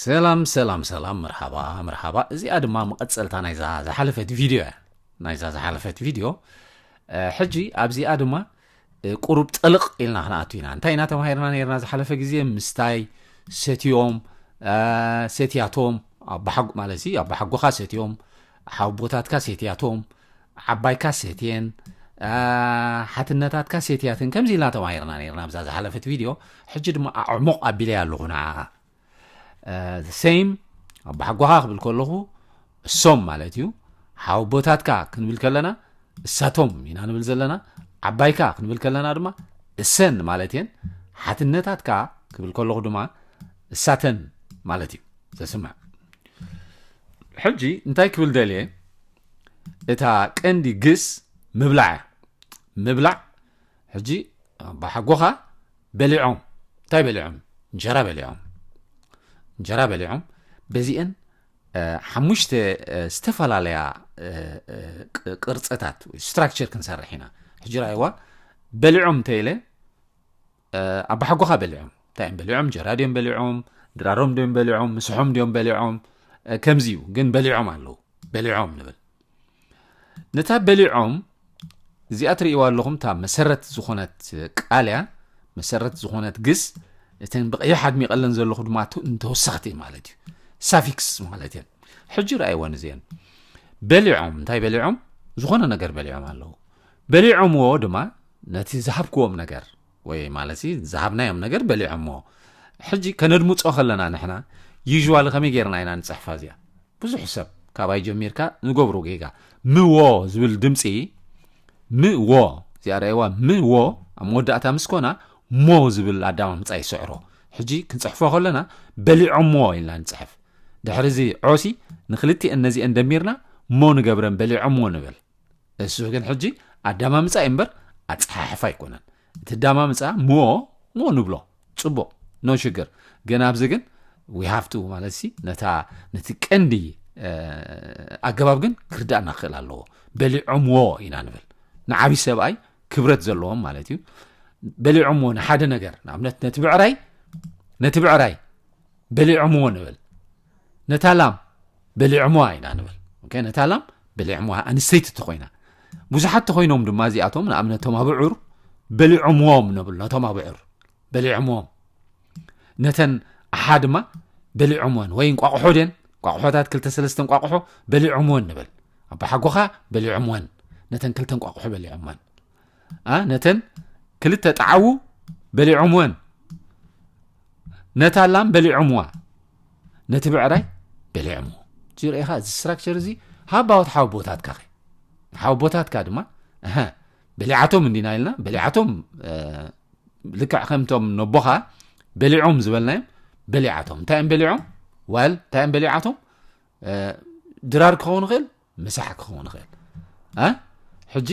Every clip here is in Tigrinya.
ሰላም ሰላም ሰላም መርሓባ መርሓባ እዚኣ ድማ መቐጸልታ ናይዛ ዝሓለፈት ቪድዮ እያ ናይዛ ዝሓለፈት ቪድዮ ሕጂ ኣብዚኣ ድማ ቁሩብ ጠልቕ ኢልና ክንኣቱ ኢና እንታይ ኢና ተማሂርና ነርና ዝሓለፈ ግዜ ምስታይ ሰትዮም ሰትያቶም ኣባሓጉ ማለት ሲ ኣባሓጎኻ ሰትዮም ሓውቦታትካ ሴትያቶም፣ ዓባይካ ሴትየን፣ ሓትነታትካ ሴትያትን ከምዚ ኢልና ተማሂርና ነርና ኣብዛ ዝሓለፈት ቪድዮ ሕጂ ድማ ኣዕሙቕ ኣቢለያ ኣለኹ ንዓኻ ሰይም ኣቦሓጎኻ ክብል ከለኹ እሶም ማለት እዩ ሓውቦታትካ ክንብል ከለና እሳቶም ኢና ንብል ዘለና ዓባይካ ክንብል ከለና ድማ እሰን ማለት እየን ሓትነታትካ ክብል ከለኹ ድማ እሳተን ማለት እዩ ዘስምዕ ሕጂ እንታይ ክብል ደልየ እታ ቀንዲ ግስ ምብላዕ እያ ምብላዕ ሕጂ ኣባሓጎኻ በሊዖም እንታይ በሊዖም እንጀራ በሊዖም እንጀራ በሊዖም በዚአን ሓሙሽተ ዝተፈላለያ ቅርፅታት ስትራክቸር ክንሰርሕ ኢና ሕጂ ራይዋ በሊዖም እንተኢለ ኣባሓጎኻ በሊዖም እንታይ እዮም በሊዖም እንጀራ ድዮም በሊዖም ድራሮም ድዮም በሊዖም ምስሖም ድዮም በሊዖም ከምዚ እዩ ግን በሊዖም ኣለዉ በሊዖም ንብል ነታ በሊዖም እዚኣ ትርእይዋ ኣለኹም እታ መሰረት ዝኾነት ቃል እያ መሰረት ዝኾነት ግስ እተን ብቀይሕ ኣድሚቐለን ዘለኹ ድማ እንተወሰኽቲ ማለት እዩ ሳፊክስ ማለት እየን ሕጂ ረኣይወን እዚአን በሊዖም እንታይ በሊዖም ዝኾነ ነገር በሊዖም ኣለዉ በሊዖምዎ ድማ ነቲ ዝሃብክዎም ነገር ወይ ማለት ዝሃብናዮም ነገር በሊዖምዎ ሕጂ ከነድምፆ ከለና ንሕና ዩዥዋሊ ከመይ ጌርና ኢና ንፅሕፋ እዚኣ ብዙሕ ሰብ ካባይ ጀሚርካ ንገብሮ ጌጋ ምዎ ዝብል ድምፂ ምዎ እዚኣ ርኣይዋ ምዎ ኣብ መወዳእታ ምስ ኮና ሞ ዝብል ኣዳማምፃ ይስዕሮ ሕጂ ክንፅሕፎ ከለና በሊዖምዎ ኢልና ንፅሕፍ ድሕሪ እዚ ዖሲ ንክልቲኤን ነዚኤን ደሚርና ሞ ንገብረን በሊዖምዎ ንብል እሱ ግን ሕጂ ኣዳማምጻ እዩ እምበር ኣጸሓሕፋ ኣይኮነን እቲ ኣዳማምጻ ሞ ሞ ንብሎ ጽቡቕ ኖ ሽግር ግን ኣብዚ ግን ዊሃፍቱ ማለት ሲ ነታ ነቲ ቀንዲ ኣገባብ ግን ክርዳእና ክኽእል ኣለዎ በሊዖምዎ ኢና ንብል ንዓብዪ ሰብኣይ ክብረት ዘለዎም ማለት እዩ በሊዖምዎ ንሓደ ነገር ንኣብነት ነቲ ብዕራይ ነቲ ብዕራይ በሊዖምዎ ንብል ነታ ላም በሊዖምዋ ኢና ንብል ኦኬ ነታ ላም በሊዖምዋ ኣንስተይቲ ተኾይና ብዙሓት ተኾይኖም ድማ እዚኣቶም ንኣብነት ቶም ኣብዑር በሊዖምዎም ነብሉ ነቶም ኣብዑር በሊዖምዎም ነተን ኣሓ ድማ በሊዖምወን ወይ እንቋቑሖ ድን ቋቑሖታት ክልተ ሰለስተ እንቋቑሖ በሊዖምወን ንብል ኣባሓጎኻ በሊዖምወን ነተን ክልተ እንቋቑሖ በሊዖምወን ነተን ክልተ ጣዓዉ በሊዖምወን ነታ ላም በሊዖምዋ ነቲ ብዕራይ በሊዖምዎ እዚ ርኢኻ እዚ ስትራክቸር እዚ ሃባዎት ሓወቦታትካ ኸ ሓወቦታትካ ድማ በሊዓቶም እንዲና ኢልና በሊዓቶም ልክዕ ከምቶም ነቦኻ በሊዖም ዝበልናዮም በሊዓቶም እንታይ እዮም በሊዖም ዋል እንታይ እዮም በሊዓቶም ድራር ክኸውን ይኽእል ምሳሕ ክኸውን ይኽእል ሕጂ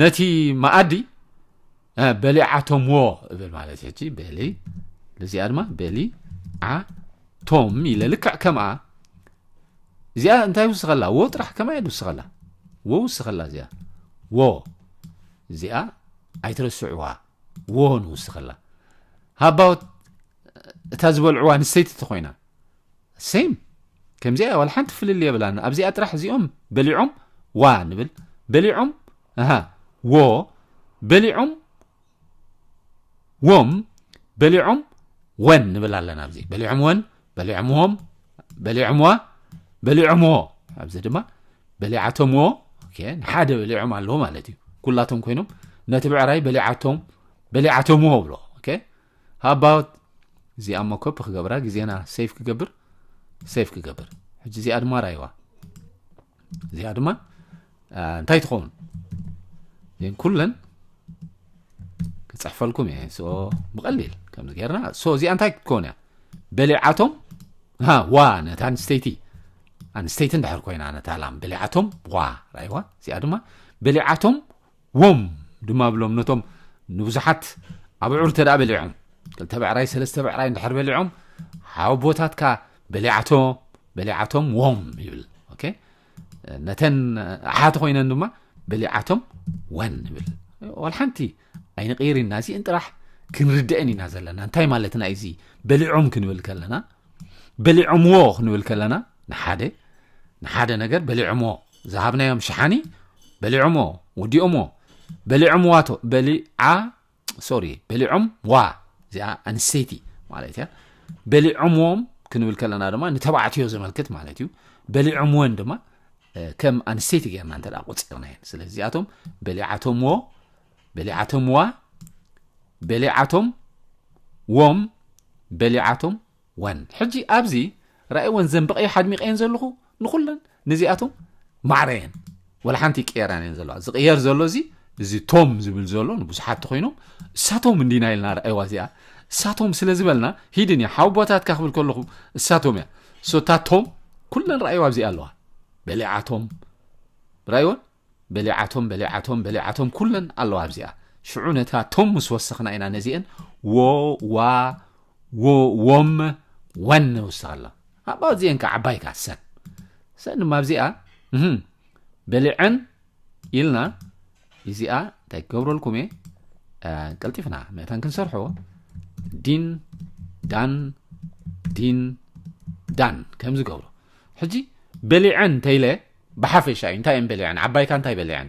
ነቲ መኣዲ በሊዓቶምዎ እብል ማለት እዩ ሕጂ በሊ እዚኣ ድማ በሊ ዓ ቶም ኢለ ልክዕ ከምኣ እዚኣ እንታይ ይውስኸላ ወ ጥራሕ ከማ እየ ዝውስኸላ ወ ውስኸላ እዚኣ ወ እዚኣ ኣይትረስዕዋ ወ ንውስኸላ ሃባወት እታ ዝበልዕዋ ንሰይቲ ተኮይና Same ከምዚኣ እያ ዋላ ሓንቲ ፍልልይ የብላን ኣብዚኣ ጥራሕ እዚኦም በሊዖም ዋ ንብል በሊዖም ኣሃ ዎ በሊዖም ዎም በሊዖም ወን ንብል ኣለና ኣብዚ በሊዖም ወን በሊዖም ዎም በሊዖም ዋ በሊዖም ዎ ኣብዚ ድማ በሊዓቶም ዎ ንሓደ በሊዖም ኣለዎ ማለት እዩ ኩላቶም ኮይኖም ነቲ ብዕራይ በሊዓቶም በሊዓቶም ዎ ብሎ ሃው ኣባውት እዚኣ እሞ ኮፒ ክገብራ ግዜና ሴፍ ክገብር ሴፍ ክገብር ሕጂ እዚኣ ድማ ራይዋ እዚኣ ድማ እንታይ ትኸውን እን ኩለን ክፅሕፈልኩም እየ ሶ ብቐሊል ከምዚ ጌርና ሶ እዚኣ እንታይ ክትከውን እያ በሊዓቶም ዋ ነቲ ኣንስተይቲ ኣንስተይቲ እንድሕር ኮይና ነታ ላም በሊዓቶም ዋ ራይዋ እዚኣ ድማ በሊዓቶም ዎም ድማ ብሎም ነቶም ንብዙሓት ኣብዑር እተ በሊዖም ክልተ ብዕራይ ሰለስተ ብዕራይ እንድሕር በሊዖም ሓወቦታትካ በሊዓቶ በሊዓቶም ዎም ይብል ነተን ኣሓት ኮይነን ድማ በሊዓቶም ወን ይብል ዋል ሓንቲ ኣይንቕይር ኢና እዚእን ጥራሕ ክንርድአን ኢና ዘለና እንታይ ማለትና እዚ በሊዖም ክንብል ከለና በሊዖምዎ ክንብል ከለና ንሓደ ንሓደ ነገር በሊዖምዎ ዝሃብናዮም ሽሓኒ በሊዖሞ ወዲኦሞ በሊዖም ዋቶ በሊዓ ሶሪ በሊዖም ዋ እዚኣ ኣንስተይቲ ማለት እያ በሊዖምዎም ክንብል ከለና ድማ ንተባዕትዮ ዘመልክት ማለት እዩ በሊዖምወን ድማ ከም ኣንስተይቲ ጌርና እንተ ቆፂርና እየን ስለዚ እዚኣቶም በሊዓቶምዎ በሊዓቶምዋ በሊዓቶም ዎም በሊዓቶም ዋን ሕጂ ኣብዚ ራእይወን ዘንብቐዮ ኣድሚቐየን ዘለኹ ንኹለን ነዚኣቶም ማዕረ እየን ወላ ሓንቲ ይቀየራን እየን ዘለዋ ዝቕየር ዘሎ እዚ እዚ ቶም ዝብል ዘሎ ንብዙሓት ተኮይኖም እሳቶም እንዲና ኢልና ራእይዋ እዚኣ እሳቶም ስለ ዝበልና ሂድን እያ ሓው ቦታትካ ክብል ከለኹ እሳቶም እያ ሶታቶም ኩለን ራእይዋ ኣብዚኣ ኣለዋ በሊዓቶም ራእይወን በሊዓቶም በሊዓቶም በሊዓቶም ኩለን ኣለዋ ኣብዚኣ ሽዑ ነታ ቶም ምስ ወሰኽና ኢና ነዚኤን ዎ ዋ ዎ ዎም ወን ንውስኽ ኣላ ኣባ እዚኤን ከ ዓባይ ከ ሰን ሰን ድማ ኣብዚኣ በሊዐን ኢልና እዚኣ እንታይ ክገብረልኩም እየ ቀልጢፍና መታን ክንሰርሖ ዲን ዳን ዲን ዳን ከምዚ ገብሮ ሕጂ በሊዐን ተይለ ብሓፈሻ እዩ እንታይ እየን በሊዐን ዓባይካ እንታይ በሊዐን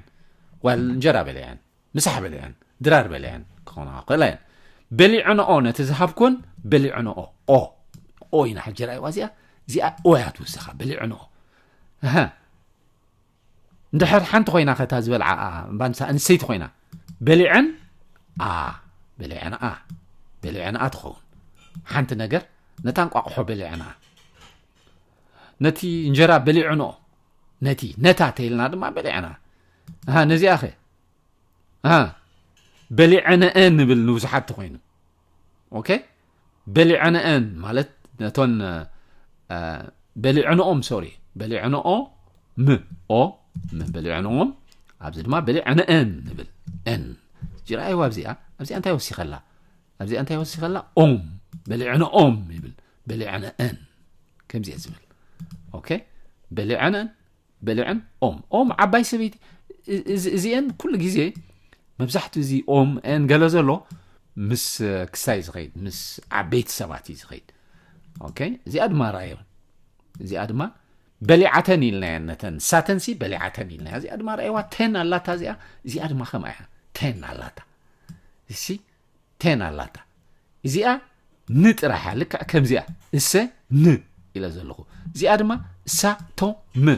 ዋል እንጀራ በሊዐን ምሳሕ በሊዐን ድራር በሊዐን ክኾና ክእላ እየን በሊዐንኦ ነቲ ዝሃብኩን በሊዐንኦ ኦ ኦ ኢና ሕጂ ራእዋ እዚኣ እዚኣ ኦ እያ ትውስኻ በሊዐንኦ እንድሕር ሓንቲ ኮይና ከታ ዝበልዓኣ ባንሳ እንሰይቲ ኮይና በሊዐን ኣ በሊዐንኣ በሊዐንኣ ትኸውን ሓንቲ ነገር ነታ እንቋቑሖ በሊዐንኣ ነቲ እንጀራ በሊዕኖ ነቲ ነታ ተይልና ድማ በሊዕና ነዚኣ ኸ በሊዐነአን ንብል ንብዙሓት ተኮይኑ ኦኬ በሊዐነአን ማለት ነቶን በሊዕንኦም ሶሪ በሊዕንኦ ም ኦ ም በሊዕንኦም ኣብዚ ድማ በሊዐነአን ንብል ን ጅራኣይዋ ኣብዚኣ ኣብዚኣ እንታይ ወሲኸላ ኣብዚኣ እንታይ ወሲኸ ኣላ ኦም በሊዐነ ኦም ይብል በሊዐነ እን ከምዚ እየ ዝብል ኦኬ በሊዐነን በሊዐን ኦም ኦም ዓባይ ሰበይቲ እዚአን ኩሉ ግዜ መብዛሕትኡ እዚ ኦም ን ገለ ዘሎ ምስ ክስታይ ዝኸይድ ምስ ዓበይቲ ሰባት እዩ ዝኸይድ ኦኬ እዚኣ ድማ ራዮን እዚኣ ድማ በሊዓተን ኢልናያ ነተን ንሳተንሲ በሊዓተን ኢልናያ እዚኣ ድማ ርኣይዋ ተን ኣላታ እዚኣ እዚኣ ድማ ከምኣ እያ ተን ኣላታ እሲ ቴን ኣላታ እዚኣ ን ጥራሓ ልክዕ ከምዚኣ እሰ ን ኢለ ዘለኹ እዚኣ ድማ እሳ ቶ ም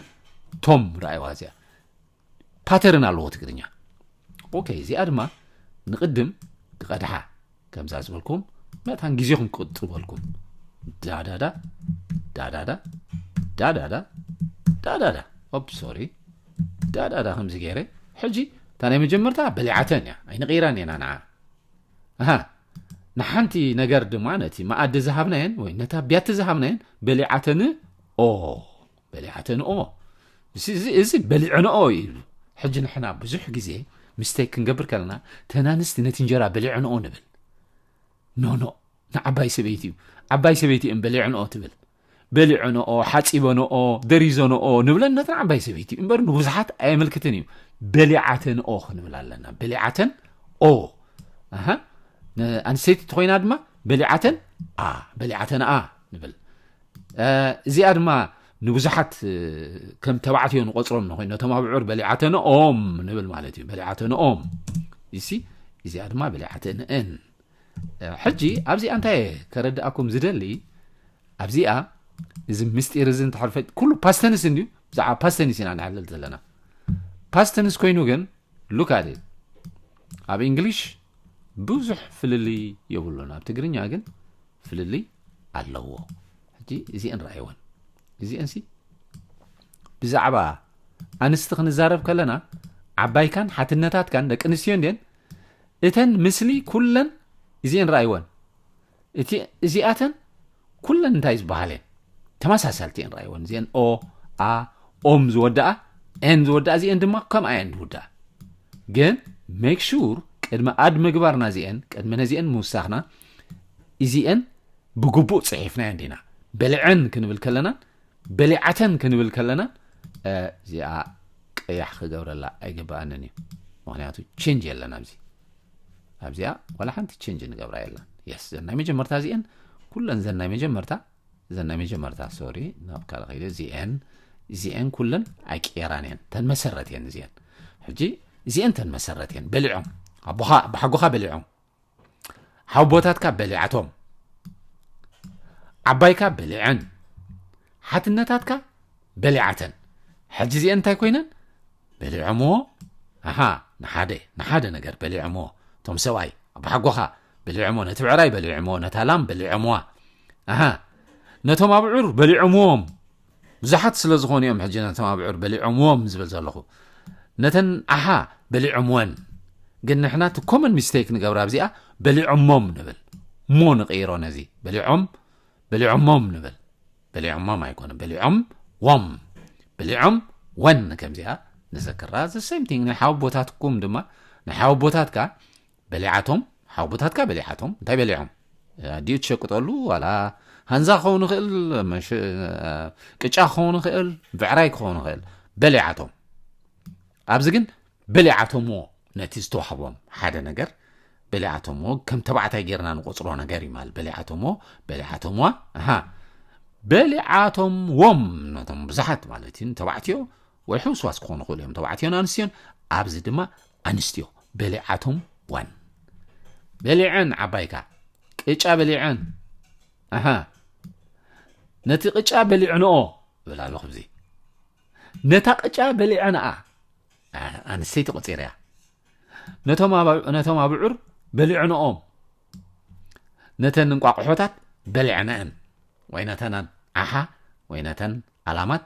ቶም ረኣይዋ እዚኣ ፓተርን ኣለዎ ትግርኛ ኦኬ እዚኣ ድማ ንቕድም ክቐድሓ ከምዛ ዝበልኩም መታን ግዜኹም ክቕጥበልኩም ዳዳዳ ዳዳዳ ዳዳዳ ዳዳዳ ኦፕ ሶሪ ዳዳዳ ከምዚ ገይረ ሕጂ እታ ናይ መጀመርታ በሊዓተን እያ ኣይንቕይራን እየና ንዓ ኣሃ ንሓንቲ ነገር ድማ ነቲ መኣዲ ዝሃብናየን ወይ ነታ ቢያቲ ዝሃብናየን በሊዓተን ኦ በሊዓተን ኦ እዚ በሊዐንኦ ይብሉ ሕጂ ንሕና ብዙሕ ግዜ ምስተይ ክንገብር ከለና ተናንስቲ ነቲ እንጀራ በሊዐንኦ ንብል ኖኖ ንዓባይ ሰበይቲ እዩ ዓባይ ሰበይቲ እየን በሊዐንኦ ትብል በሊዐንኦ፣ ሓጺበንኦ፣ ደሪዘንኦ ንብለን ነተን ዓባይ ሰበይቲ እምበር ንብዙሓት ኣየመልክትን እዩ። በሊዓተንኦ ክንብል ኣለና። በሊዓተን ኦ ኣሃ ኣንስተይቲ እንተኾይና ድማ በሊዓተን ኣ በሊዓተን ኣ ንብል እዚኣ ድማ ንብዙሓት ከም ተባዕትዮ ንቆፅሮም ንኮይኑ ነቶም ኣብዑር በሊዓተንኦም ንብል ማለት እዩ በሊዓተንኦም ይሲ እዚኣ ድማ በሊዓተንእን ሕጂ ኣብዚኣ እንታይ እየ ከረድኣኩም ዝደሊ ኣብዚኣ እዚ ምስጢር እዚ እንተሕርፈ ኩሉ ፓስተንስ እንድዩ ብዛዕባ ፓስተንስ ኢና ንሕልል ዘለና ፓስተንስ ኮይኑ ግን ሉካድ ኣብ እንግሊሽ ብዙሕ ፍልልይ የብሉን ኣብ ትግርኛ ግን ፍልልይ ኣለዎ ሕጂ እዚአን ረኣይወን እዚአን ሲ ብዛዕባ ኣንስቲ ክንዛረብ ከለና ዓባይካን ሓትነታትካን ደቂ ኣንስትዮ እንድን እተን ምስሊ ኩለን እዚኤን ራኣይወን እቲ እዚኣተን ኩለን እንታይ ዝበሃል እየን ተመሳሳልቲ እየን ራኣይወን እዚኤን ኦ ኣ ኦም ዝወደኣ ኤን ዝወደኣ እዚኤን ድማ ከምኣ እየን ዝውደኣ ግን ሜክ ሹር ቅድሚ ኣድ ምግባርና እዚኤን ቅድሚ ነዚኤን ምውሳኽና እዚኤን ብግቡእ ፅሒፍናየን ዲና በልዐን ክንብል ከለና በሊዓተን ክንብል ከለና እዚኣ ቀያሕ ክገብረላ ኣይግብኣንን እዩ ምክንያቱ ቼንጅ የለን ኣብዚ ኣብዚኣ ዋላ ሓንቲ ቼንጅ ንገብራ የለን የስ ዘን ናይ መጀመርታ እዚአን ኩለን ዘን ናይ መጀመርታ ዘን ናይ መጀመርታ ሶሪ ናብ ካልእ ከይደ እዚአን እዚአን ኩለን ኣይቅየራን እየን ተን መሰረት እየን እዚአን ሕጂ እዚአን ተን መሰረት እየን በሊዖም ኣቦኻ ብሓጎኻ በሊዖም ሓውቦታትካ በሊዓቶም ዓባይካ በሊዐን ሓትነታትካ በሊዓተን ሕጂ እዚአን እንታይ ኮይነን በሊዖምዎ ኣሃ ንሓደ ንሓደ ነገር በሊዖምዎ እቶም ሰብኣይ ኣባሓጎኻ በሊዖምዎ ነቲ ብዕራይ በሊዖምዎ ነታ ላም በሊዖምዋ ኣሃ ነቶም ኣብዑር በሊዖምዎም ብዙሓት ስለ ዝኾኑ እዮም ሕጂ ነቶም ኣብዑር በሊዖምዎም ዝብል ዘለኹ ነተን ኣሓ በሊዖምወን ግን ንሕና እቲ ኮመን ሚስቴክ ንገብራ ኣብዚኣ በሊዖሞም ንብል ሞ ንቕይሮ ነዚ በሊዖም በሊዖሞም ንብል በሊዖሞም ኣይኮነ በሊዖም ዎም በሊዖም ወን ከምዚኣ ንዘክራ ዘ ሴም ቲንግ ንሓወቦታትኩም ድማ ንሓወቦታትካ በሊዓቶም ሓውቦታትካ በሊዓቶም እንታይ በሊዖም ኣዲኡ ትሸቅጠሉ ዋላ ሃንዛ ክኸውን ይኽእል ቅጫ ክኸውን ይኽእል ብዕራይ ክኸውን ይኽእል በሊዓቶም ኣብዚ ግን በሊዓቶምዎ ነቲ ዝተዋህቦም ሓደ ነገር በሊዓቶምዎ ከም ተባዕታይ ጌርና ንቆፅሮ ነገር እዩ ማለት በሊዓቶምዎ በሊዓቶምዋ ሃ በሊዓቶምዎም ነቶም ብዙሓት ማለት እዩ ተባዕትዮ ወይ ሕውስዋስ ክኾኑ ክእሉ እዮም ተባዕትዮን ኣንስትዮን ኣብዚ ድማ ኣንስትዮ በሊዓቶም ዋን በሊዐን ዓባይካ ቅጫ በሊዐን ኣሃ ነቲ ቅጫ በሊዕንኦ ብል ኣሎ ከምዚ ነታ ቅጫ በሊዐንኣ ኣንስተይቲ ቆፂርያ ነቶም ኣብዑር በሊዕንኦም ነተን እንቋቑሖታት በሊዕንአን ወይ ነተን ዓሓ ወይ ነተን ኣላማት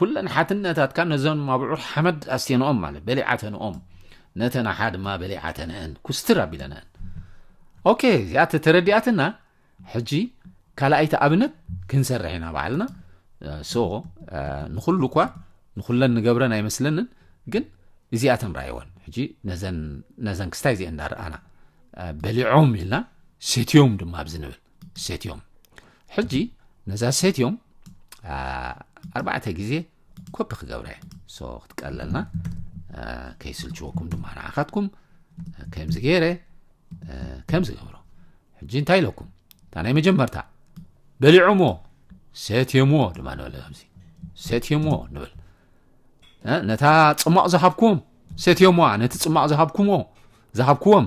ኩለን ሓትነታትካ ነዘን ኣብዑር ሓመድ ኣስቴንኦም ማለት በሊዓተንኦም ነተን ኣሓ ድማ በሊዓተንአን ኩስትር ኣቢለንአን ኦኬ እዚኣ ተተረዲኣትና ሕጂ ካልኣይቲ ኣብነት ክንሰርሕ ኢና ባዕልና ሶ ንኩሉ እኳ ንኩለን ንገብረን ኣይመስለንን ግን እዚኣተን ራእይወን ሕጂ ነዘን ክስታይ እዚአን እንዳረኣና በሊዖም ኢልና ሴትዮም ድማ ኣብዚ ንብል ሴት እዮም ሕጂ ነዛ ሴት እዮም ኣርባዕተ ግዜ ኮፒ ክገብረ ሶ ክትቀለልና ከይስልችወኩም ድማ ንዓኻትኩም ከምዚ ገይረ ከምዚ ገብሮ ሕጂ እንታይ ኢለኩም እታ ናይ መጀመርታ በሊዖሞ ሰትዮሞ ድማ ንበለ ከምዚ ሰትዮሞ ንብል ነታ ፅሟቕ ዝሃብኩም ሰትዮሞ ነቲ ፅሟቕ ዝሃብኩሞ ዝሃብኩዎም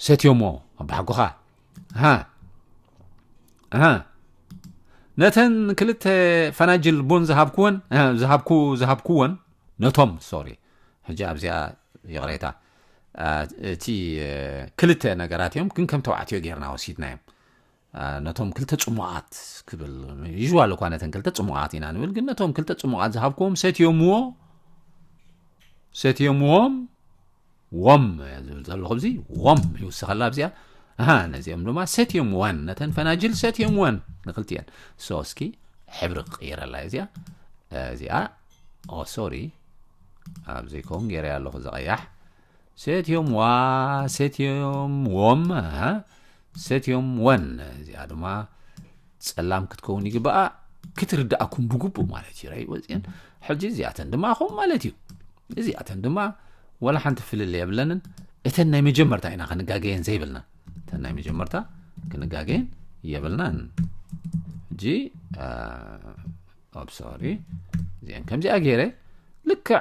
ሰትዮሞ ኣባሓጎኻ ሃ ሃ ነተን ክልተ ፈናጅል ቡን ዝሃብኩወን ዝሃብኩ ዝሃብኩወን ነቶም ሶሪ ሕጂ ኣብዚኣ ይቕሬታ እቲ ክልተ ነገራት እዮም ግን ከም ተባዕትዮ ጌርና ወሲድና እዮም ነቶም ክልተ ፅሙቓት ክብል ይዋል እኳ ነተን ክልተ ፅሙቓት ኢና ንብል ግን ነቶም ክልተ ፅሙቓት ዝሃብክዎም ሰትዮምዎ ሰትዮምዎም ዎም እያ ዝብል ዘለኹ እዚ ዎም ይውስኸላ ኣብዚኣ ኣሃ ነዚኦም ድማ ሰትዮም ዋን ነተን ፈናጅል ሰትዮም ዋን ንክልቲኤን ሶ እስኪ ሕብሪ ክቕይረላ እዚኣ እዚኣ ኦ ሶሪ ኣብ ዘይከውን ገይረያ ኣለኹ ዘቐያሕ ሰትዮም ዋ ሰትዮም ዎም ኣሃ ሰትዮም ወን እዚኣ ድማ ጸላም ክትከውን ይግባኣ ክትርዳእኩም ብግቡእ ማለት እዩ ራይ ወፅን ሕጂ እዚኣተን ድማ ኣኹም ማለት እዩ እዚኣተን ድማ ወላ ሓንቲ ፍልል የብለንን እተን ናይ መጀመርታ ኢና ክንጋገየን ዘይብልና እተን ናይ መጀመርታ ክንጋገየን የብልናን ሕጂ ኣብ ሶሪ እዚአን ከምዚኣ ገይረ ልክዕ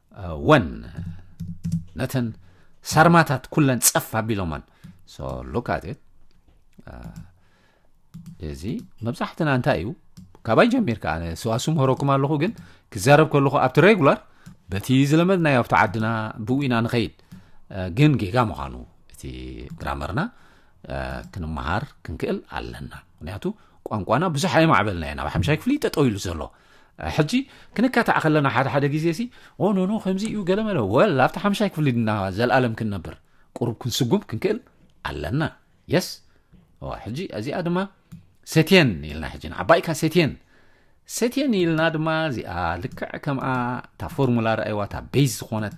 ወን ነተን ሳርማታት ኩለን ጸፍ ኣቢሎመን ሶ ሉክ ኣት እዚ መብዛሕትና እንታይ እዩ ካባይ ጀሚርካ ኣነ ስዋሱ ምህረኩም ኣለኹ ግን ክዛረብ ከለኹ ኣብቲ ሬጉላር በቲ ዝለመድናዮ ኣብቲ ዓድና ብኡ ኢና ንኸይድ ግን ጌጋ ምዃኑ እቲ ግራመርና ክንመሃር ክንክእል ኣለና ምክንያቱ ቋንቋና ብዙሕ ኣይማዕበልና ኢና ኣብ ሓምሻይ ክፍሊ ጠጠው ኢሉ ዘሎ ሕጂ ክንካታዕ ከለና ሓደ ሓደ ግዜሲ ኦ ኖኖ ከምዚ እዩ ገለመለ ወል ኣብቲ ሓምሻይ ክፍሊ ድና ዘልኣለም ክንነብር ቁሩብ ክንስጉም ክንክእል ኣለና የስ ሕጂ እዚኣ ድማ ሰትየን ኢልና ሕጂ ንዓባይካ ሰትየን ሰትየን ኢልና ድማ እዚኣ ልክዕ ከምኣ እታ ፎርሙላ ረኣይዋ እታ ቤዝ ዝኾነት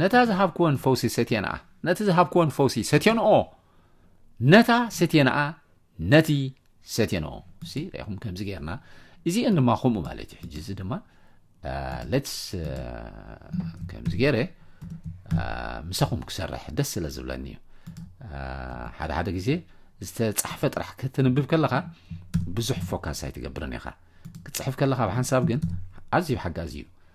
ነታ ዝሃብክወን ፈውሲ ሰትየንኣ፣ ነቲ ዝሃብክወን ፈውሲ ሰትዮንኦ፣ ነታ ሰትየንኣ፣ ነቲ ሰትዮንኦ። ሲ ርኢኹም ከምዚ ጌርና እዚኤን ድማ ከምኡ ማለት እዩ። ሕጂ እዚ ድማ ሌትስ ከምዚ ገይረ ምሳኹም ክሰርሕ ደስ ስለ ዝብለኒ እዩ ሓደ ሓደ ግዜ ዝተፃሕፈ ጥራሕ ክትንብብ ከለኻ ብዙሕ ፎካስ ኣይትገብርን ኢኻ ክፅሕፍ ከለኻ ብሓንሳብ ግን ኣዝዩ ሓጋዚ እዩ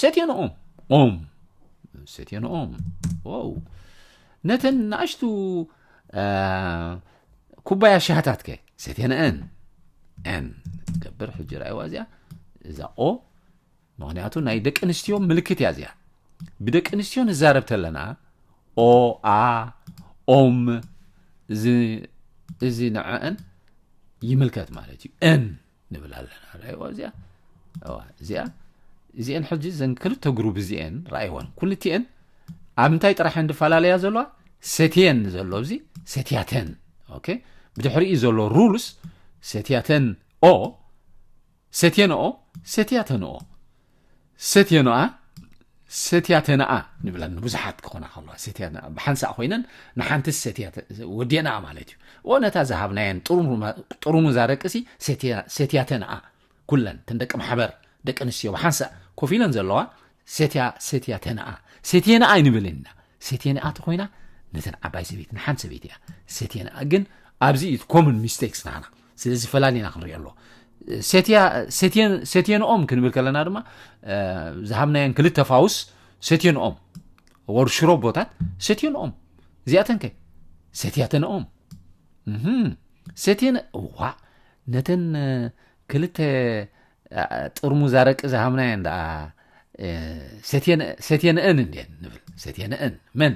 ሰትዮ ንኦም ኦም ሰትዮ ንኦም ዋው ነተን ንኣሽቱ ኩባያ ሻሃታት ከ ሰትዮ ንአን ን ገብር ሕጂ ርኣይዋ እዚኣ እዛ ኦ ምክንያቱ ናይ ደቂ ኣንስትዮ ምልክት እያ እዚኣ ብደቂ ኣንስትዮ ንዛረብ ተለና ኦ ኣ ኦም እዚ ንዐአን ይምልከት ማለት እዩ ን ንብል ኣለና ራይዎ እዚኣ እዋ እዚኣ እዚአን ሕጂ ዘን ክልተ ግሩብ እዚአን ራይወን ኩልቲኤን ኣብ እንታይ ጥራሕ እየን ዝፈላለያ ዘለዋ ሰትየን ዘሎ እዚ ሰትያተን ኦኬ ብድሕሪኡ ዘሎ ሩልስ ሰትያተን ኦ ሰትየን ኦ ሰትያተን ኦ ሰትዮኖኣ ሰትያተናኣ ንብለን ንብዙሓት ክኾና ከለዋ ሰትያ ብሓንሳእ ኮይነን ንሓንቲ ሰትያ ወዲእናኣ ማለት እዩ ኦ ነታ ዝሃብናየን ጥሩሙዛ ደቅሲ ሰትያተናኣ ኩለን እተን ደቂ ማሕበር ደቂ ኣንስትዮ ብሓንሳእ ኮፍ ኢለን ዘለዋ ሰትያ ሰትያተናኣ ሰትየናኣ ይንብል ኢና ሴቴንኣ ተኾይና ነተን ዓባይ ሰበይቲ ንሓንቲ ሰበይቲ እያ ሴቴንኣ ግን ኣብዚ እዩ ኮሙን ሚስቴክስ ናና ስለዚ ፈላሊና ክንሪኦ ኣሎ ሴቴንኦም ክንብል ከለና ድማ ዝሃብናየን ክልተ ፋውስ ሴቴንኦም ወር ሽሮቦታት ሴቴንኦም እዚኣተን ከ ሴትያተንኦም ሴቴን ዋ ነተን ክልተ ጥርሙዝ ኣረቂ ዝሃብናየን ደኣ ሰትየንአን እንድየን ንብል ሰትየንአን መን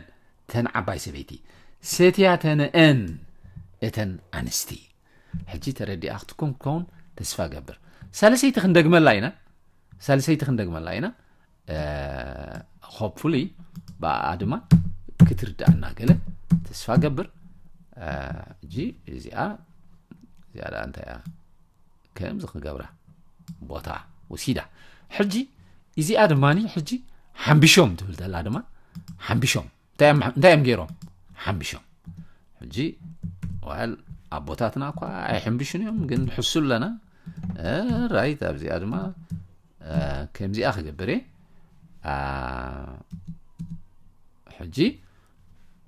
ተን ዓባይ ሰበይቲ ሰትያተንአን እተን ኣንስቲ ሕጂ ተረዲኣ ክትኩም ክኸውን ተስፋ ገብር ሳልሰይቲ ክንደግመላ ኢና ሳልሰይቲ ክንደግመላ ኢና ሆፕፉሊ ብኣ ድማ ክትርዳእና ገለ ተስፋ ገብር ሕጂ እዚኣ እዚኣ ደኣ እንታይ እያ ከምዚ ክገብራ ቦታ ወሲዳ ሕጂ እዚኣ ድማ ሕጂ ሓምቢሾም ትብል ዘላ ድማ ሓምቢሾም እንታይ እዮም ገይሮም ሓምቢሾም ሕጂ ዋል ኣቦታትና እኳ ኣይሕምብሹን እዮም ግን ንሕሱ ኣለና ራይት ኣብዚኣ ድማ ከምዚኣ ክገብር እየ ሕጂ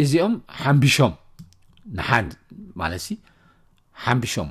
እዚኦም ሓምቢሾም ንሓን ማለት ሓምቢሾም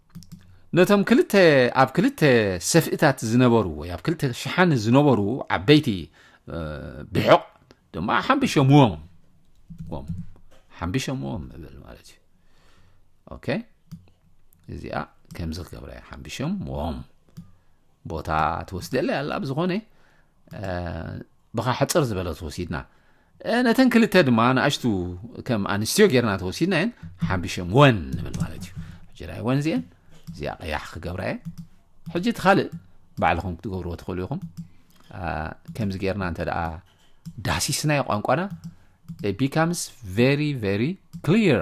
ነቶም ክልተ ኣብ ክልተ ሰፍእታት ዝነበሩ ወይ ኣብ ክልተ ሸሓኒ ዝነበሩ ዓበይቲ ብሕቕ ድማ ሓምቢሸምዎም ሓምቢሸምዎም እብል ማለት እዩ ኦኬ እዚኣ ከምዚ ክገብረ እያ ሓምቢሾም ዎም ቦታ ትወስደለ ኣላ ብዝኾነ ብኻ ሕፅር ዝበለ ተወሲድና ነተን ክልተ ድማ ንኣሽቱ ከም ኣንስትዮ ጌርና ተወሲድናየን ሓምቢሸም ወን ንብል ማለት እዩ ሕጂ ናይ ወን እዚአን እዚኣ ቀያሕ ክገብራ እየ ሕጂ እቲ ካልእ ባዕልኹም ክትገብርዎ ትኽእሉ ኢኹም ከምዚ ጌርና እንተ ደኣ ዳሲስናዮ ቋንቋና ቢካምስ ቨሪ ቨሪ ክሊር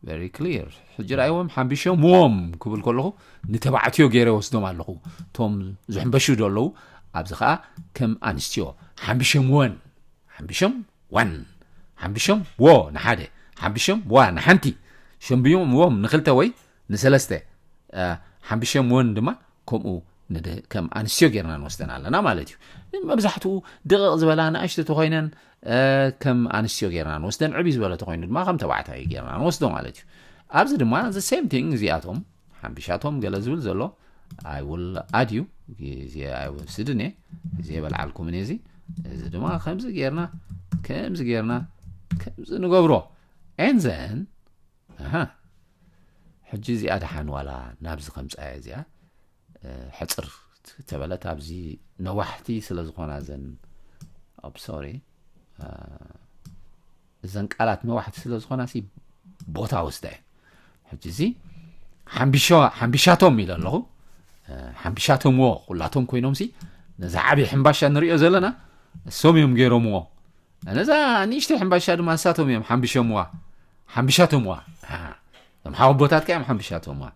ቨሪ ክሊር ሕጂ ርኣይዎም ሓምቢሾም ዎም ክብል ከለኹ ንተባዕትዮ ገይረ ወስዶም ኣለኹ እቶም ዝሕምበሹ ዶ ኣለዉ ኣብዚ ከዓ ከም ኣንስትዮ ሓምቢሾም ወን ሓምብሾም ዋን ሓምብሾም ዎ ንሓደ ሓምብሾም ዋ ንሓንቲ ሸምብዮም ዎም ንክልተ ወይ ንሰለስተ ሓምብሾም ዎን ድማ ከምኡ ከም ኣንስትዮ ጌርና ንወስደን ኣለና ማለት እዩ መብዛሕትኡ ድቕቕ ዝበላ ንኣሽቶ ተኮይነን ከም ኣንስትዮ ጌርና ንወስደን ዕብይ ዝበለ ተኮይኑ ድማ ከም ተባዕታይ ጌርና ንወስዶ ማለት እዩ ኣብዚ ድማ ዘ ሴም ቲንግ እዚኣቶም ሓምቢሻቶም ገለ ዝብል ዘሎ ኣይ ውል ኣድዩ ግዜ ኣይወስድን እየ ግዜ በልዓልኩምን እየ እዚ እዚ ድማ ከምዚ ጌርና ከምዚ ጌርና ከምዚ ንገብሮ ኤንዘን ሕጂ እዚኣ ድሓን ዋላ ናብዚ ከምፃያ እዚኣ ሕፅር ተበለት ኣብዚ ነዋሕቲ ስለ ዝኾና ዘን ኣብ ሶሪ እዘን ቃላት ነዋሕቲ ስለ ዝኾናሲ ቦታ ወስዳ እዩ ሕጂ እዚ ሓምቢሻቶም ኢለ ኣለኹ ሓምቢሻቶምዎ ኩላቶም ኮይኖም ሲ ነዚ ዓብዪ ሕምባሻ ንሪኦ ዘለና እሶም እዮም ገይሮምዎ ነዛ ንእሽተይ ሕምባሻ ድማ ንሳቶም እዮም ሓምቢሾምዋ ሓምቢሻቶምዋ እዞም ሓወቦታት ከ እዮም ሓምቢሻቶምዋ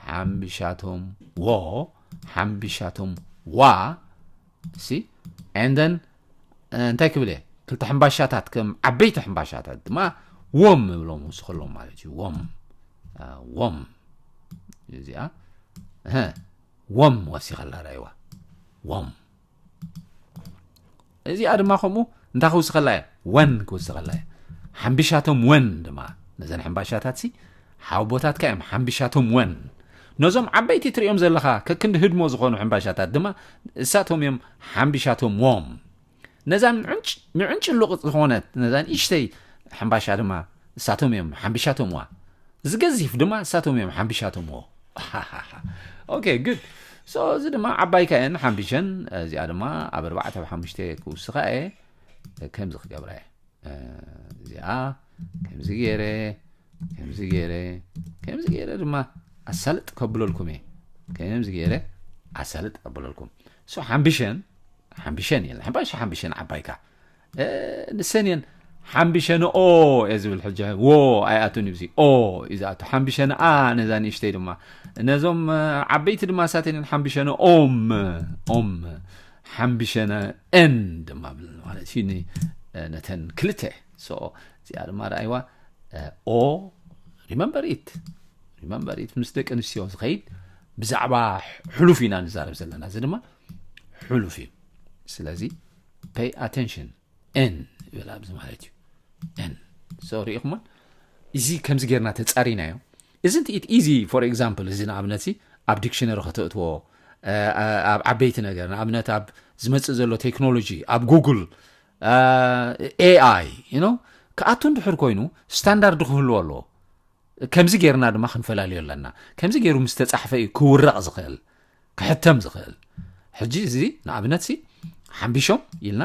ሓምቢሻቶም ዎ ሓምቢሻቶም ዋ ሲ ኤንደን እንታይ ክብል እየ ክልተ ሕምባሻታት ከም ዓበይቲ ሕምባሻታት ድማ ወም እብሎም ውስኸሎም ማለት እዩ ወም ወም እዚኣ ወም ወሲኸላ ዳይዋ ወም እዚኣ ድማ ከምኡ እንታይ ክውስኸላ እየ ወን ክውስኸላ እየ ሓምቢሻቶም ወን ድማ ነዘን ሕምባሻታት ሲ ሓውቦታትካ እዮም ሓምብሻቶም ወን ነዞም ዓበይቲ ትርእዮም ዘለኻ ከክንዲ ህድሞ ዝኾኑ ሕምባሻታት ድማ እሳቶም እዮም ሓምብሻቶም ዎም ነዛ ምዕንጭ ምዕንጭ ሉቕጥ ዝኾነት ነዛ ንእሽተይ ሕምባሻ ድማ እሳቶም እዮም ሓምብሻቶም ዋ እዚ ገዚፍ ድማ እሳቶም እዮም ሓምብሻቶም ዎ ኦኬ ግድ ሶ እዚ ድማ ዓባይካ እየን ሓምብሸን እዚኣ ድማ ኣብ ኣርባዕተ ኣብ ሓሙሽተ ክውስኻ እየ ከምዚ ክገብራ እየ እዚኣ ከምዚ ገይረ ከምዚ ገይረ ከምዚ ገይረ ድማ ኣሳልጥ ከብለልኩም እየ ከምዚ ገይረ ኣሳልጥ ከብለልኩም ሶ ሓምብሸን ሓምብሸን እየን ሓምባሽ ሓምብሸን ዓባይካ ንሰን እየን ሓምብሸንኦ እየ ዝብል ሕጂ ዎ ኣይኣቱን እዩ ኦ እዩ ዝኣቱ ሓምብሸንኣ ነዛ ንእሽተይ ድማ ነዞም ዓበይቲ ድማ ሳተን እየን ሓምብሸንኦም ኦም ሓምብሸነ ን ድማ ብል ማለት እዩ ነተን ክልተ ሶ እዚኣ ድማ ረኣይዋ ኦ ሪመምበር ኢት ሪመምበር ኢት ምስ ደቂ ኣንስትዮ ዝኸይድ ብዛዕባ ሕሉፍ ኢና ንዛረብ ዘለና እዚ ድማ ሕሉፍ እዩ ስለዚ ፔይ ኣቴንሽን ን ይብል ኣብዚ ማለት እዩ ን ሶ ርኢኹሞን እዚ ከምዚ ጌርና ተፃሪናዮ Isn't it easy for example እዚ ንኣብነትሲ ኣብ ዲክሽነሪ ከተእትዎ ኣብ ዓበይቲ ነገር ንኣብነት ኣብ ዝመጽእ ዘሎ ቴክኖሎጂ ኣብ ጉግል ኤኣይ ዩ ክኣቱ እንድሕር ኮይኑ ስታንዳርድ ክህልዎ ኣለዎ ከምዚ ጌርና ድማ ክንፈላለዩ ኣለና ከምዚ ገይሩ ምስ ተጻሕፈ እዩ ክውረቕ ዝኽእል ክሕተም ዝኽእል ሕጂ እዚ ንኣብነትሲ ሓምቢሾም ኢልና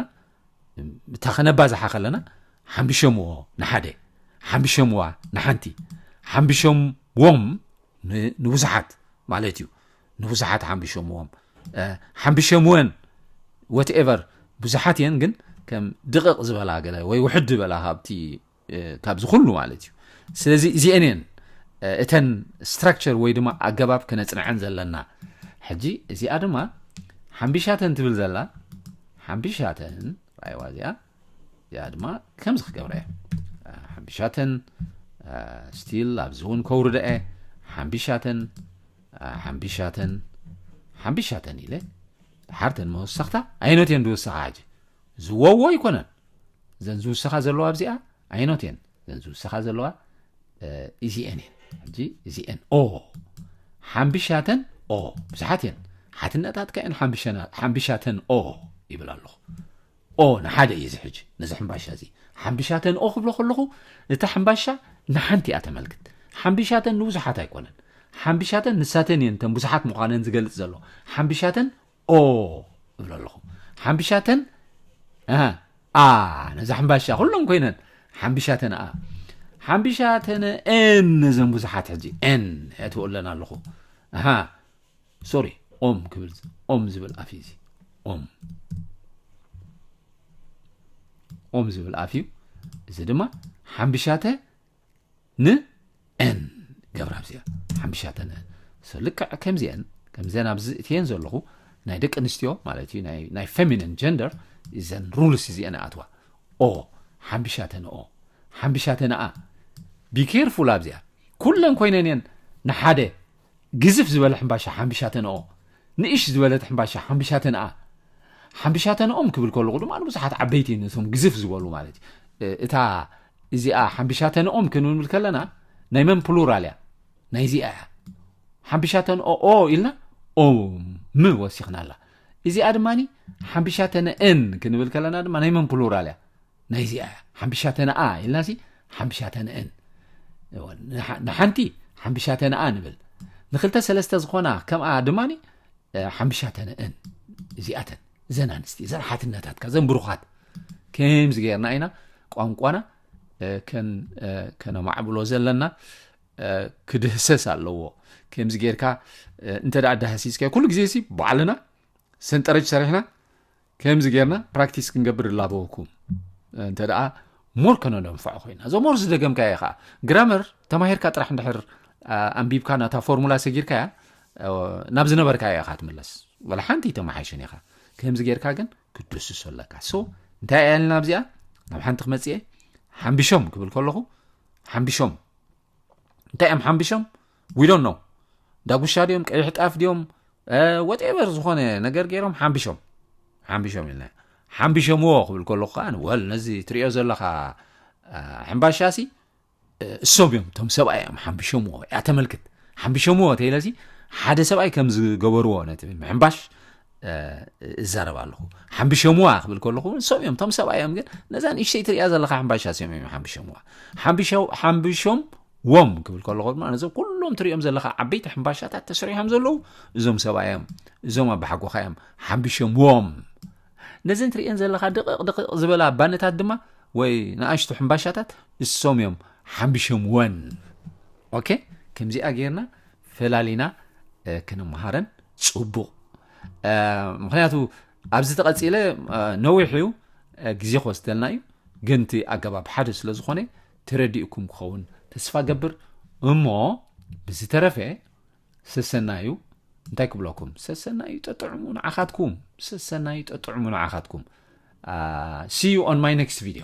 እታ ከነባዝሓ ከለና ሓምቢሸምዎ ንሓደ ሓምቢሸምዋ ንሓንቲ ሓምቢሸምዎም ንብዙሓት ማለት እዩ ንብዙሓት ሓምቢሸምዎም ሓምቢሸምወን ወትኤቨር ብዙሓት እየን ግን ከም ድቕቕ ዝበላ ገለ ወይ ውሕድ ዝበላ ካብቲ ካብዚ ኩሉ ማለት እዩ ስለዚ እዚኤን እየን እተን ስትራክቸር ወይ ድማ ኣገባብ ክነፅንዐን ዘለና ሕጂ እዚኣ ድማ ሓምቢሻተን ትብል ዘላ ሓምቢሻተን ራይዋ እዚኣ እዚኣ ድማ ከምዚ ክገብረ እየ ሓምቢሻተን ስቲል ኣብዚ እውን ከውርደ እየ ሓምቢሻተን ሓምቢሻተን ሓምቢሻተን ኢለ ሓርተን መወሰኽታ ኣይነት እየን ዝወሰኻ ሕጂ ዝወዎ ኣይኮነን እዘን ዝውሰኻ ዘለዋ ኣብዚኣ ኣይኖት እየን እዘን ዝውሰኻ ዘለዋ እዚኤን እየን ሕጂ እዚኤን ኦ ሓምብሻተን ኦ ብዙሓት እየን ሓትነታትካ እየን ሓምብሻተን ኦ ይብል ኣለኹ ኦ ንሓደ እዩ እዚ ሕጂ ነዚ ሕምባሻ እዚ ሓምብሻተን ኦ ክብሎ ከለኹ እታ ሕምባሻ ንሓንቲ እያ ተመልክት ሓምብሻተን ንብዙሓት ኣይኮነን ሓምብሻተን ንሳተን እየን እተን ብዙሓት ምዃነን ዝገልጽ ዘሎ ሓምብሻተን ኦ እብሎ ኣለኹ ሓምብሻተን ኣሃ ኣ ነዛ ሕምባሻ ኩሎም ኮይነን ሓምብሻተን ኣ ሓምብሻተን ኤን ነዘን ብዙሓት ሕጂ ኤን የእትዎ ኣለና ኣለኹ ኣሃ ሶሪ ኦም ክብል ኦም ዝብል ኣፍ እዩ እዚ ኦም ኦም ዝብል ኣፍ እዩ እዚ ድማ ሓምብሻተ ን ን ገብራብ እዚኣ ሓምሻተን So ልክዕ ከምዚአን ከምዘን ኣብዚ እትየን ዘለኹ ናይ ደቂ ኣንስትዮ ማለት እዩ ናይ ናይ ፌሚኒን ጀንደር እዘን ሩልስ እዚአን ኣትዋ ኦ ሓምሻተን ኦ ሓምሻተን ኣ ቢኬርፉል ኣብዚኣ ኩለን ኮይነን እየን ንሓደ ግዝፍ ዝበለ ሕምባሻ ሓምብሻተንኦ ንእሽ ዝበለት ሕምባሻ ሓምብሻተንኣ ሓምብሻተንኦም ክብል ከለኹ ድማ ንብዙሓት ዓበይቲ ነቶም ግዝፍ ዝበሉ ማለት እዩ እታ እዚኣ ሓምብሻተንኦም ክንብል ከለና ናይ መን ፕሉራል እያ ናይ እዚኣ እያ ሓምብሻተንኦ ኦ ኢልና ኦ ም ወሲኽና ኣላ እዚኣ ድማ ሓምብሻተንእን ክንብል ከለና ድማ ናይ መን ፕሉራል እያ ናይዚኣ እያ ሓምብሻተነኣ ኢልናሲ ሓምብሻተነእን ንሓንቲ ሓምብሻተነኣ ንብል ንክልተ ሰለስተ ዝኾና ከምኣ ድማ ሓምብሻተነእን እዚኣተን እዘን ኣንስቲ እዘን ሓትነታትካ እዘን ብሩኻት ከምዚ ገርና ኢና ቋንቋና ከነማዕብሎ ዘለና ክድህሰስ ኣለዎ ከምዚ ጌርካ እንተ ዳህሲስካ ኩሉ ግዜ ሲ ባዕልና ሰንጠረጅ ሰሪሕና ከምዚ ጌርና ፕራክቲስ ክንገብር እላበወኩም እንተ ደኣ ሞር ከነነንፍዖ ኮይና እዞ ሞር ዝደገምካ እየ ከዓ ግራመር ተማሂርካ ጥራሕ እንድሕር ኣንቢብካ ናታ ፎርሙላ ሰጊርካ እያ ናብ ዝነበርካ እያ ኢኻ ትምለስ ወላ ሓንቲ ተመሓይሽን ኢኻ ከምዚ ጌርካ ግን ክድስሶ ኣለካ ሶ እንታይ እያ ልና ኣብዚኣ ናብ ሓንቲ ክመፅእ እየ ሓምቢሾም ክብል ከለኹ ሓምቢሾም እንታይ እዮም ሓምቢሾም we don't know ዳጉሻ ድዮም ቀይሕ ጣፍ ድዮም ወቴቨር ዝኾነ ነገር ገይሮም ሓምቢሾም ሓምቢሾም ኢልና ሓምቢሾምዎ ክብል ከለኩ ከዓ ወል ነዚ ትሪኦ ዘለካ ሕምባሻሲ እሶም እዮም እቶም ሰብኣይ እዮም ሓምቢሾምዎ እያ ተመልክት ሓምቢሾምዎ ተይለሲ ሓደ ሰብኣይ ከም ዝገበርዎ ነቲ ምሕምባሽ እዛረብ ኣለኹ ሓምቢሾምዋ ክብል ከለኹ እሶም እዮም እቶም ሰብኣይ እዮም ግን ነዛ ንእሽተይ ትሪያ ዘለካ ሕምባሻሲ እዮም እዮም ሓምቢሾምዋ ሓምቢሾም ዎም ክብል ከለኹ ድማ ነዞም ኩሎም ትሪኦም ዘለኻ ዓበይቲ ሕምባሻታት ተሰሪሖም ዘለዉ እዞም ሰባ እዮም እዞም ኣባሓጎኻ እዮም ሓምቢሾም ዎም ነዘን ትሪእን ዘለኻ ድቕቕ ድቕቕ ዝበላ ባነታት ድማ ወይ ንኣሽቱ ሕምባሻታት እሶም እዮም ሓምቢሾም ወን ኦኬ ከምዚኣ ጌርና ፈላሊና ክንምሃረን ፅቡቕ ምክንያቱ ኣብዚ ተቐፂለ ነዊሕ እዩ ግዜ ክወስደልና እዩ ግን እቲ ኣገባብ ሓደ ስለ ዝኾነ ተረዲኡኩም ክኸውን ተስፋ እገብር እሞ ብዝተረፈ ሰሰናዩ እንታይ ክብለኩም ሰሰናዩ ጠጥዕሙ ንዓኻትኩም ሰሰናዩ ጠጥዕሙ ንዓኻትኩም ሲ ዩ ኦን ማይ ኔክስት ቪድዮ